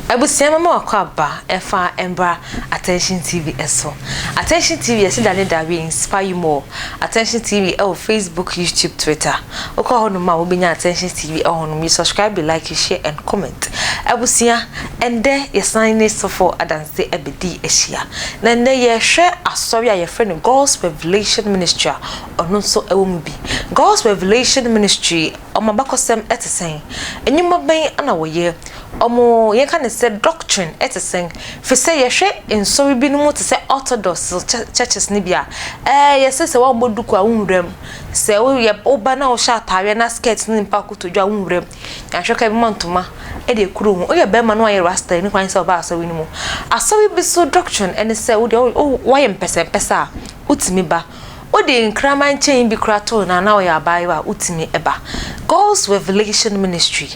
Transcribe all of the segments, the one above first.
Abusua mama wakɔ aba ɛfa mbra Attention TV ɛso. Attention TV ɛsi da ne da we inspire you more. Attention TV ɛwɔ Facebook, YouTube, Twitter. Wokɔ hɔ nom a wobɛnya Attention TV ɛwɔ nom. You subscribe, you like, you share and comment. Abusua ɛndɛ yɛsan ne sɔfo adanse. dze abedii ehyia. Na ndɛ yɛhwɛ asɔr a yɛfrɛ no God's Revelation Ministry a, ɔno so wɔ mu bi. God's Revelation Ministry, wɔn abakɔsɛm tse sɛn? Ndwuma bɛn na wɔyɛ? Wɔn, yɛnka no sɛ doctrine tse sɛn? Firi sɛ yɛhwɛ nsɔre binom tse sɛ Orthodox churches no bi a, ɛɛ yɛse sɛ wɔammɔ duku a wonnwura mu. Sɛ woyɛ, woba na wohyɛ ataareɛ na skirt ne mpaboa kotodwe a wonnwura mu. Yɛanhwɛ koraa yɛbɛma ntoma de akuru wo ho. Woyɛ barima na woayɛ rasta a, nni kwan sɛ woba asɔre no mu. Asɔre bi so doctrine ne sɛ wo deɛ wo wo woayɛ mpɛsɛmpɛsɛ a, wotumi ba. Wode nkraman chain bi koraa to wo nan na woyɛ abaayewa a, wotumi ba. God's Revelation Ministry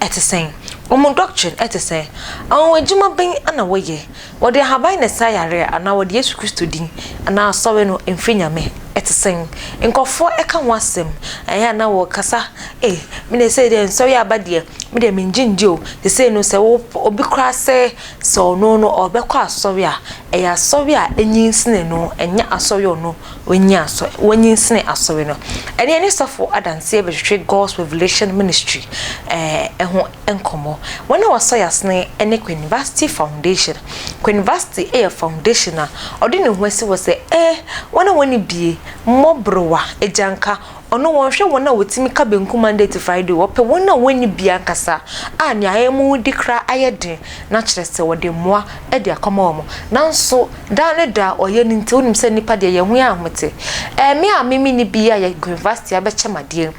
te sɛn? Wɔn doctrine te sɛn? Anwanwadwuma bɛn na wɔyɛ? Wɔde ahaban na ɛsa yare a, anaa wɔde Yesu Kristo din anaa Asɔre no mfiri Nyame? Ɛte sɛn? Nkurɔfoɔ ka ho asɛm, ɛyɛ a na wɔkasa, Ei, me deɛ sei deɛ nsɔre aba deɛ, me deɛ mengye ndi o, seesei no sɛ wopɛ obi koraa sɛ sɛ ɔno no ɔbɛkɔ asɔre a, ɛyɛ asɔre a anyinsene no, ɛnyɛ asɔre a ɔno wanyin asɔ, wanyinsene asɔre no. Ɛnneɛ ne sɔfo adanseɛ bɛhwehwɛ God's Revelation Ministry ɛɛ, ɛho. nkɔmmɔ. Wɔn a wɔasɔ yɛn asene ne Queen Vashti Foundation. Queen Vashti yɛ foundation a ɔde ne ho asi hɔ sɛ ɛ wɔn a wɔnni die, mmɔborowa, agyanka, ɔno wɔnhwɛ wɔn a wɔtumi ka benkum Monday to Friday o, ɔpɛ wɔn a wɔnni bi ankasa a nea ayɛ wɔn de koraa ayɛ den na kyerɛ sɛ wɔde mmoa de akɔma wɔn. Nanso daa ne daa ɔyɛ no nti wonim sɛ nnipa deɛ yɛn ho yɛ ahomete. Ɛɛ me a me menni bi a yɛ Queen Vashti abɛkyɛ me adeɛ yi.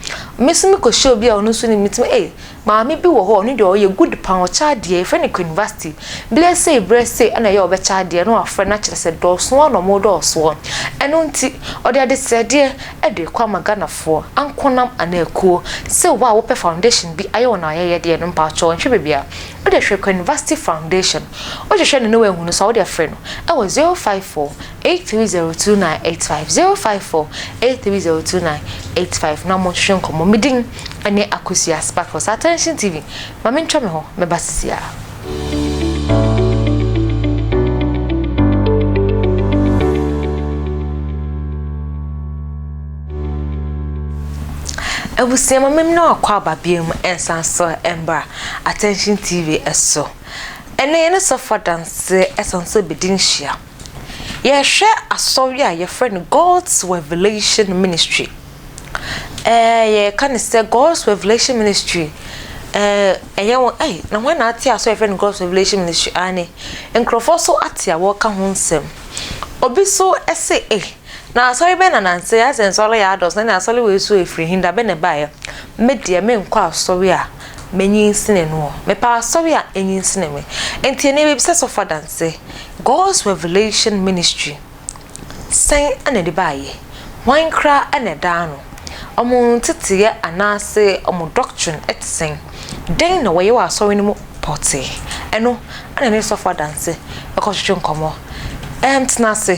Me nso mekɔhyia obi a ɔno nso nni bi, metumi ei, Maame bi wɔ hɔ a ɔno deɛ ɔyɛ good paa ɔkyɛ adeɛ yɛfrɛ no Queenvasty berɛ sei berɛ sei ɛna ɛyɛ a ɔbɛkyɛ adeɛ na wafrɛ no akyerɛ sɛ dɔɔso ara na ɔmo dɔɔ soɔ ɛno nti ɔde adesrɛdeɛ ɛde kɔ ama Ghanafoɔ ankonam anaa akuo sɛ wo a wopɛ foundation bi ayɛ wo na wayɛyɛdeɛ no mpaatwɔ nhwɛ baabi a wode hwɛ Queenvasty foundation wohwehwɛ no na wanhunu so a wode afrɛ no ɛwɔ 054 eight three zero two nine eight five zero five four eight three zero two nine eight five na wɔnhwehwɛ nkɔmmɔ me din ne Akosua Sparkles Attention TV ma mentwa me hɔ mɛba sisiaa. Abusua ma mem na wakɔ aba biam nsan so mbra Attention TV so ɛnɛ yɛne sɔfo adanse ɛsan so bɛdi nhyia. Yɛhwɛ asɔre a yɛfrɛ no God's Revelation Ministry. Ɛɛ yɛka no sɛ God's Revelation Ministry. Ɛɛ ɛyɛ wɔn ɛy na wɔn na ate asɔre yɛfrɛ no God's Revelation Ministry aane. Nkurɔfoɔ so ate a wɔka ho nsɛm. Obi so ɛse ɛy Na asɔre bɛn na nanse asɛ nsɔre yɛ adɔs na ne asɔre wei so efiri he, da bɛn na ɛbaeɛ? Me deɛ menkɔ asɔre a manyinsini noɔ, mepɛ asɔre a anyinsini me. Nti ɛnneɛ mebisa sɔfo adanse, God's Revelation Ministry sɛn na ɛde baeɛ? Hwan koraa na ɛdaa ano? Wɔn nteteeɛ anaase wɔn doctrine te sɛn? Dɛn na wɔyɛ wɔ asɔre no mu pɔtee? Ɛno na ɛne sɔfo adanse bɛkɔtwetwe nkɔmmɔ. Ɛɛm, tena ase.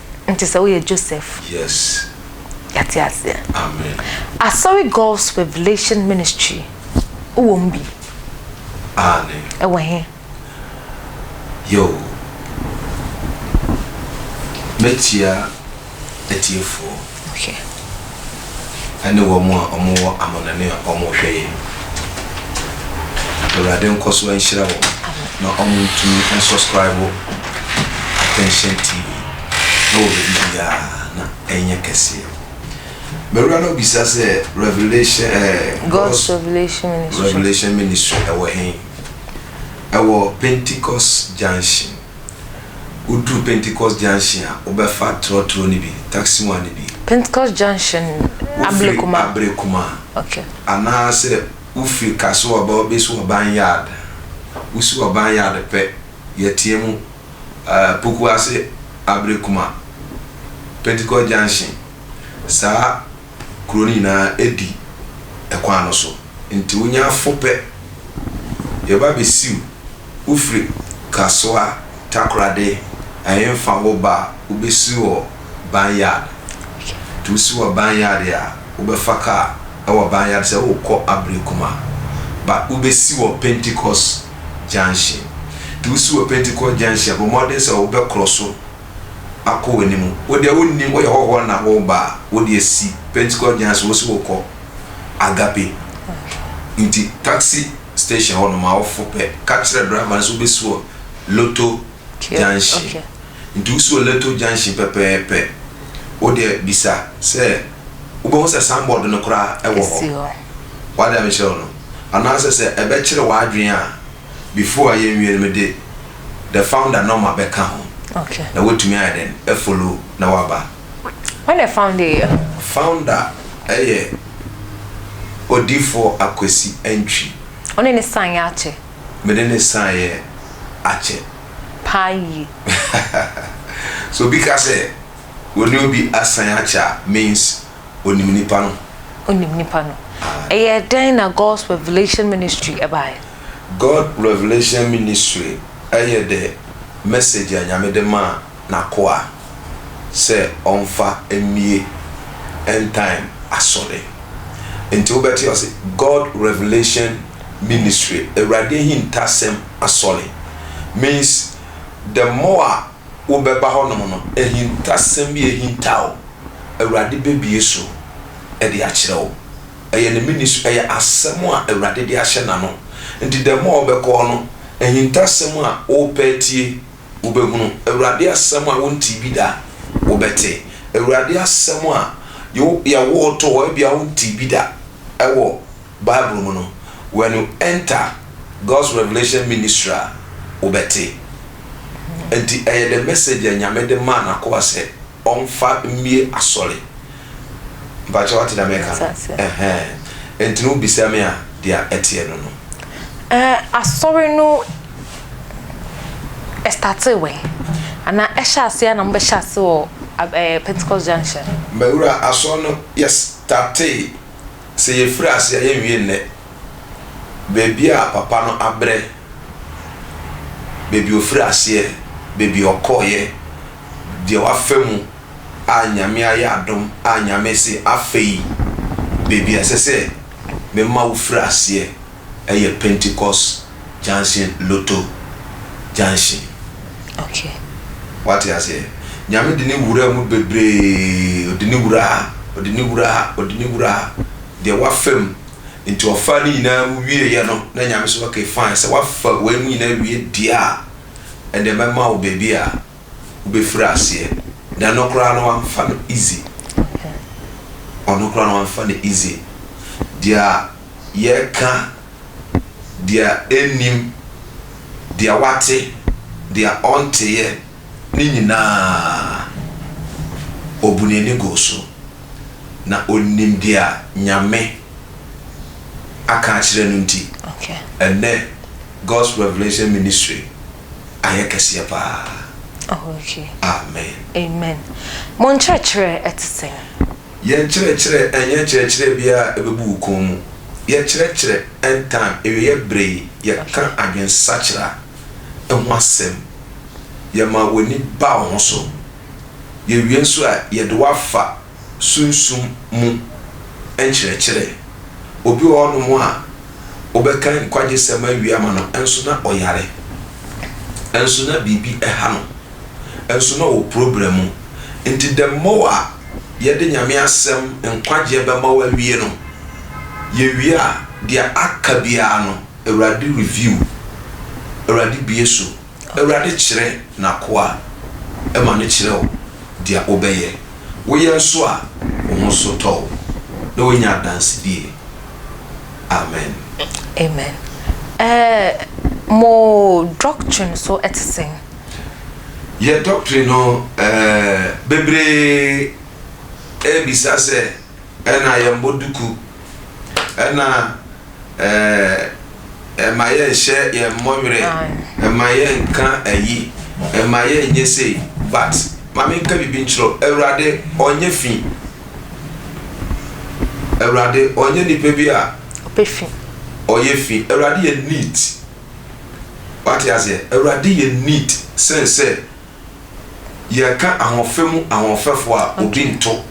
Nti sɛ woyɛ Joseph. Yes. Yɛate aseɛ. Amen. Asɔre Gulf's Revelation Ministry wowɔ mu bi? Aane. Ɛwɔ he? Yoo. Mɛkyia atiefoɔ. Hwɛ, ɛne wɔn a wɔwɔ amannɔne a wɔrehwɛ yɛn no. Awurade nkɔ so nhyira wɔn na wɔntumi nsɔskraibo Attention TV wɔ baabi biara na ɛnyɛ kɛseɛ. Mewura no bisa sɛ Revelation eh, God's Revelation Ministry, Revelation Ministry ɛwɔ hen? Ɛwɔ Pentecost Junction. Woduru Pentecost Junction a, wobɛfa trɔtrɔ no bi, taksiwa no bi. Pentecost Junction, Ablekuma? Wofiri Ablekuma. Okay. Anaasɛ wofiri Kasoa ba wobɛsi Ɔban Yard. Wosi Ɔban Yard pɛ, yɛteɛ mu, ɛɛ, Pokuase, Ablekuma, Pentecost Junction. Saa. kuro no nyinaa di ɛkwan no so, nti wonya fo pɛ, yɛba bɛsiw wo firi Kasoa Takorade Ahemfa wo ba a wobɛsi wɔ Barn Yard, nti wosi wɔ Barn Yard a wobɛfa kaa wɔ Barn Yard sɛ worekɔ Aberekuma but wobɛsi wɔ Pentecost Junction, nti wosi wɔ Pentecost Junction a bɔ mmɔden sɛ wobɛkorɔ so. akɔ w'anim. Wo deɛ wonnim, woyɛ hɔhoɔ na woreba a, wo deɛ si Pentecost gyan so, wose wokɔ Agape. Nti taxi station hɔ nom a wofo pɛ, ka kyerɛ driver no sɛ wobɛsi wɔ Lotto junction. Nti wosi wɔ Lotto junction pɛpɛɛpɛ, wo deɛ bisa sɛ, wobɛhu sɛ signboard no koraa wɔ hɔ. W'ade a mekyerɛ wo no? Anaasɛ sɛ ɛbɛkyere w'adwene a, before a yɛnwie no mede the founder nɔma bɛka ho na woatumi ayɛ dɛn afolo na woaba. Wane founder yɛ? Founder yɛ Odifoɔ Akwasi Antwi. Wone ne san yɛ akyɛ? Mede ne san yɛ akyɛ. Paa yie. Sɛ obi ka sɛ wɔne obi asan akyɛ a means Onim nipa no. Onim nipa no. Ɛyɛ dɛn na God's Revelation Ministry baeɛ? God Revelation Ministry yɛ the message a Nyame de maa N'akoa sɛ ɔmfa mmie end time asɔre. Nti wobɛte ɔse God Revelation Ministry, Awurade ahintasɛm asɔre, means the more a. wobɛba hɔnom no, ahintasɛm bi a ahinta wo, Awurade bɛbue so de akyerɛ wo. Ɛyɛ ne mene su, ɛyɛ asɛm a Awurade de ahyɛ n'ano. Nti the more wobɛkɔ no, ahintasɛm a worepɛ atie, wobɛhunu. Awurade asɛm a wontee bi da, wobɛte. Awurade asɛm a yɛwoo too hɔ, ebia wontee bi da wɔ. Bible mu no, when you enter God's revelation ministry a, wobɛte. Ɛnti ɛyɛ the message a Nyame de maa n'akoa sɛ ɔmfa mmie asɔre. Mpakyɛ wate deɛ meka no? Ɛhɛn. Ɛnti no wobisa me a, deɛ ɛteɛ no no. Ɛɛ, asɔre no ɛstartee wɛn? Anaa ɛhyɛ aseɛ a na mo bɛhyɛ aseɛ wɔ ɛɛ Pentecost Junction? Mawura, asɔre no yɛstartee. Sɛ yɛfiri ase a, yɛnwie nnɛ. Baabi a papa no abrɛ, baabi a ɔfiri aseɛ, baabi a ɔkɔeɛ, deɛ wafa mu a Nyame ayɛ adom a Nyame se afei baabi a ɛsɛ sɛ mema wofiri aseɛ. ɛyɛ Pentecost junction lotto junction. Okay. Wate aseɛ? Nyame de ne wuraa mu bebree, ɔde ne wuraa, ɔde ne wuraa, ɔde ne wuraa, deɛ wafa mu, nti ɔfaa ne nyinaa mu wieeɛ no, na Nyame se okay fine, sɛ wafa wei mu nyinaa wie deɛ a, ɛnneɛ mɛma wo baabi a, wobɛfiri aseɛ de ano koraa no wamfa no easy ɔno koraa no wamfa no easy deɛ yɛka deɛ ɛnnim deɛ wate deɛ ɔnteeɛ ne nyinaa ɔbu n'ani guu so na ɔnim deɛ Nyame aka akyerɛ no nti ɛnnɛ God's Revelation Ministry ayɛ kɛseɛ paa. Oh okay. Amen. Amen. Mo nkyerɛkyerɛ ɛte sɛn? Yɛn nkyerɛkyerɛ ɛnyɛ nkyerɛkyerɛ bi a ɛbɛbu wo kɔn mu. Yɛkyerɛkyerɛ anytime, awieɛ berɛ yi, yɛka adwensakyera ho asɛm, yɛma w'ani ba wo ho so, yɛwie nso a yɛde wo afa. sunsum mu nkyerɛkyerɛ. Obi wɔ hɔnom a wobɛka nkwagyesɛm awie ama no nso na ɔyare, nso na biribi ha no, nso na ɔwɔ problem mu. Nti the more a yɛde Nyame asɛm nkwagyeɛ bɛma wo awie no, yɛwie a deɛ aka biara no Awurade review, Awurade bue so. Awurade kyerɛ n'akoa ma no kyerɛ wo deɛ wobɛyɛ. Woyɛ nso a, wo ho so tɔ wo na woanya adansedie. Amen. Amen. Ɛɛ mo doctrine so te sɛn? Yɛ doctrine no, ɛɛ bebree ɛɛbisa sɛ. Ɛna yɛnbɔ duku. Ɛna ɛma yɛnhyɛ yɛn mmɔ werɛ. Ɛma yɛnka ayi. Ɛma yɛnyɛ sei. But ma menka biribi nkyerɛ wo, Awurade ɔnyɛ fi. Awurade ɔnyɛ nipa bi a ɔyɛ fi. Awurade yɛ neat. Wate aseɛ? Awurade yɛ neat sen sɛ. Yɛreka ahoɔfɛ mu ahoɔfɛfoɔ a, obi nto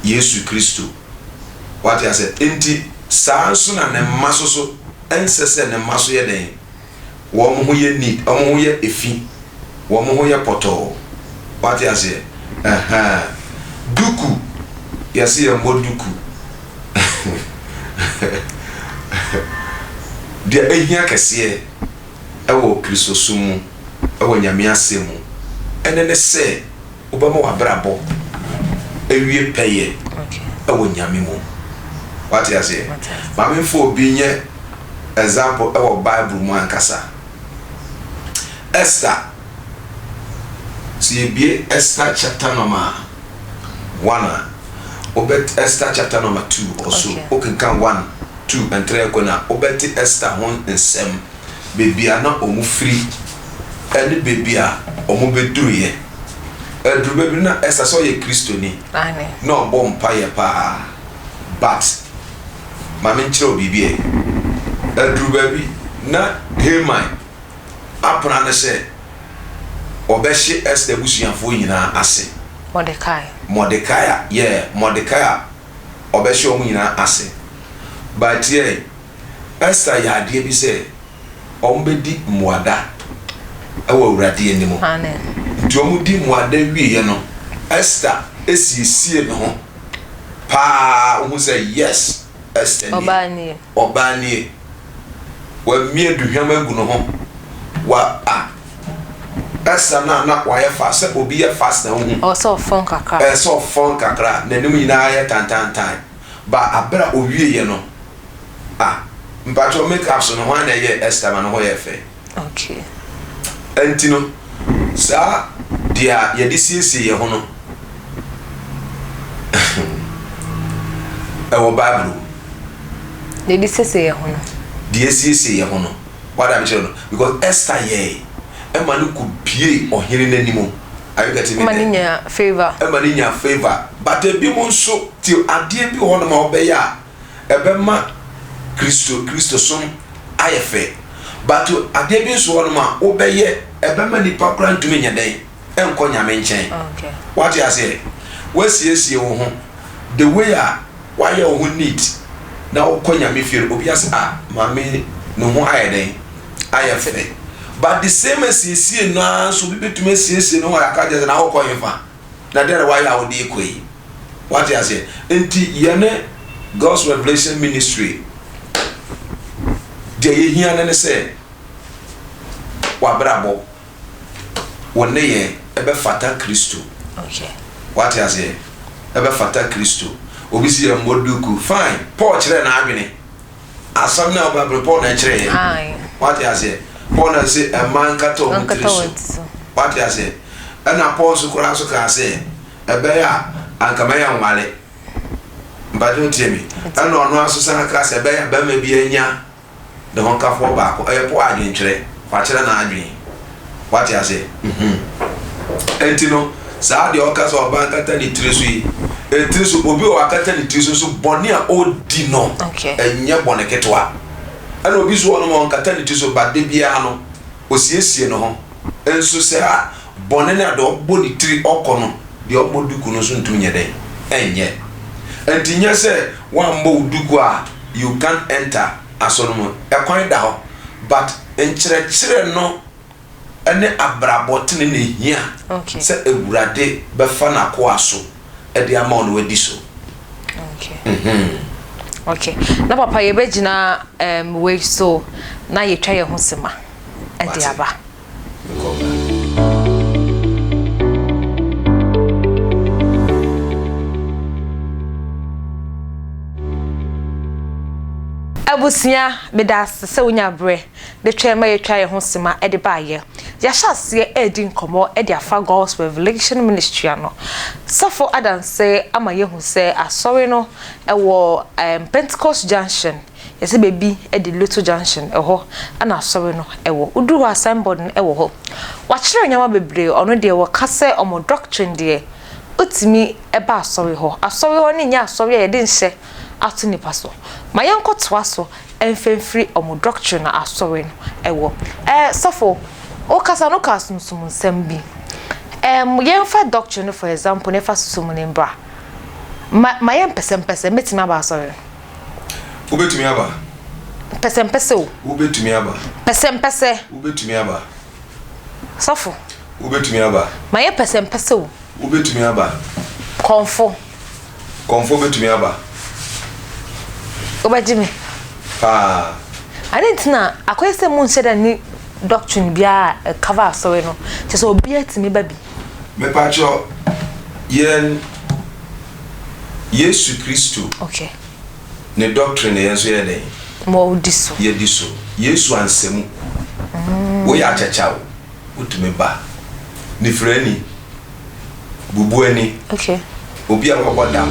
Yesu Kristo. Wate aseɛ? Enti saa ara nso na ne mma nso so, ɛnsɛ sɛ ne mma nso yɛ dɛn? Wɔn ho yɛ neat, wɔn ho yɛ fi, wɔn ho yɛ pɔtɔɔ. Wate aseɛ? Ɛhɛn. Duku, yɛse yɛmmɔ duku. Deɛ ɛhia kɛseɛ. wɔ Kristosom mu, wɔ Nyame Asɛm mu, ɛno ne sɛ wobɛma w'abrabɔ awie pɛyɛ wɔ Nyame mu. Wate aseɛ? Ma me mfa obi nyɛ example wɔ Bible mu ankasa. Esther, sɛ yɛbue Esther chapter number one a, wobɛ Esther chapter number two ɔso, wokenkan one, Tu ntrɛ kɔ na wobɛte Ester ho nsɛm, baabi a na wɔfiri ne baabi a wɔbɛduruiɛ. Aduru baabi no, na Ester sɛ ɔyɛ Kristoni, na ɔbɔ mpaeɛ pa ara. But, ma menkyerɛ wo biribi ɛ, aduru baabi na Haman apena no sɛ ɔbɛhye Ester abusuafoɔ nyinaa ase. Mordecai. Mordecai, yeah, Mordecai a. ɔbɛhyɛ wɔn nyinaa ase. But yɛn, Esther yɛ adeɛ bi sɛ wɔbɛdi mmuada wɔ Awurade anim. Nti wɔdi mmuada wieɛ no, Esther siesie ne ho paa, wohu sɛ yes, Esther nie, ɔbaa nie, wamia aduhwam agu ne ho, wa, ah. Ɛsɛ na na wayɛ fast sɛ obi yɛ fast na wohu. Ɛwɔ sɛ ɔfɔn kakra. Ɛwɔ sɛ ɔfɔn kakra, n'anim nyinaa yɛ tantantan. But aber a owieeɛ no, ah, mpakyɛw make up so no hwan na ɛyɛɛ Esther ma ne ho yɛɛ fɛ? Okay. Ɛnti no, saa deɛ a yɛde siesie yɛn ho no, ɛwɔ Bible mu. Deɛ yɛde siesie yɛn ho no. Deɛ yɛsiesie yɛn ho no. W'ade a mekyerɛ no because Esther yɛe ɛma no ko pie ɔhene no anim are you getting me there? Ɛma no nya favour. Ɛma no nya favour but ebi mo nso ti adeɛ bi wɔ hɔ nom a wobɛyɛ a ɛbɛma Kristo Kristo som ayɛ fɛ but adeɛ bi nso wɔ hɔ nom a wobɛyɛ ɛbɛma nipa koraa ntumi nyɛ dɛn? nkɔ Nyame nkyɛn. Wate aseɛ? Wasiesie wo ho the way a wayɛ wo ho neat na wokɔ Nyame fie no, obi ase ah maame yi ne ho ayɛ dɛn? Ayɛ fɛ. But the same asiesie no ara nso obi bɛtumi asiesie ne ho ayɛ aka kyerɛ na wokɔ hefa? Na dɛn na wayɛ a wode rekɔ yi? Wate aseɛ? Nti yɛne God's Revelation Ministry deɛ yɛhia no ne sɛ wabrabɔ. wo nneyɛɛ bɛfata Kristo. Wate aseɛ? Ɛbɛfata Kristo. Obi si yɛn mmɔ duku. Fine. Paul kyerɛɛ n'adwene. Asɛm no a ɔbɛbɛ no, Paul na ɛkyerɛɛ yɛ. Wate aseɛ? Paul na se ɛma nkata wɔn tiri so. Wate aseɛ? Ɛna Paul nso koraa nso kaa sɛ ɛbɛyɛ a anka mɛyɛ nwale. Mpakyɛ wotie me? Ɛna ɔno ara nso san kaa sɛ ɛbɛyɛ a bɛrima bi anya ne ho kafoɔ baako. Ɛyɛ po adwenkyerɛ. Wakyerɛ n'adwene. Wate aseɛ? Mhmm. Ɛnti no, saa deɛ ɔka sɛ ɔbaa kata ne tiri so yi, ɛtiri so, obi wɔ hɔ akata ne tiri so nso, bɔne a ɔredi no, ɛnyɛ bɔne ketewa. Ɛna obi nso wɔ hɔ nom a ɔnkata ne tiri so, but da biara no, ɔsiesie ne ho. Nso saa bɔne no a deɛ ɔbɔ ne tiri ɔkɔ no, deɛ ɔmmɔ duku no nso ntumi nyɛ dɛn? Ɛnyɛ. Nti nyɛ sɛ woammɔ wo duku a you can't enter asɔre no mu. Ɛkwan da hɔ but nkyerɛkyerɛ no ne abrabɔ tene na ɛhia sɛ Awurade bɛfa n'akoa so. de ama wo na wadi so. Okay. Mm-hmm. Okay. Na papa yɛbɛgyina um, wei so na yɛtwa yɛn ho sema de aba. abusua meda ase sɛ wonya berɛ De twɛn ma yɛatwa yɛn ho sima de baeɛ. Yɛahyɛ aseɛ redi nkɔmmɔ de afa God's Revelation Ministry ano. Safo adanse ama yɛahu sɛ Asɔre no wɔ um, Pentecost Junction, yɛsɛ baabi de Luto Junction, ɛhɔ na Asɔre no wɔ. Woduru hɔ a signboard no wɔ hɔ. Wɔakyerɛ nneɛma bebree, ɔno deɛ wɔka sɛ wɔn doctrine deɛ, wotumi ba Asɔre hɔ. Asɔre hɔ no nyɛ Asɔre a yɛde nhyɛ ato nnipa so. Ma yɛnkɔtoa so Ɛnfa mfiri wɔn doctrine no asɔre no ɛwɔ. Ɛɛ sɔfo wo kasa no ka sunsum nsɛm bi. Ɛɛm yɛn fa doctrine no for example na yɛn fa sunsum no mbra. Ma ma yɛn pɛsɛmpɛsɛ mɛtumi aba asɔre no. Wo bɛtumi aba. Pɛsɛmpɛsɛ o. Wo bɛtumi aba. Pɛsɛmpɛsɛ. Wo bɛtumi aba. Sɔfo. Wobɛtumi aba. Mayɛ pɛsɛmpɛsɛ o. Wobɛtumi aba. Kɔmfo. Kɔmfo bɛtumi aba. Wobɛgye me. Paa. Ade nti na akɔyɛ sɛ mo nhyɛ da ni doctrine biara a ɛkava asɔre no, kyɛ sɛ obiara tumi ba bi. Mepakyɛw, yɛn Yesu Kristo. Okay. Ne doctrine na yɛn nso yɛyɛ dɛn? Wɔdi so. Yɛdi so. Yesu ansɛ mu. Woyɛ akyakya o, wotumi ba. Nifirani, bubuani, obi a wabɔ dam.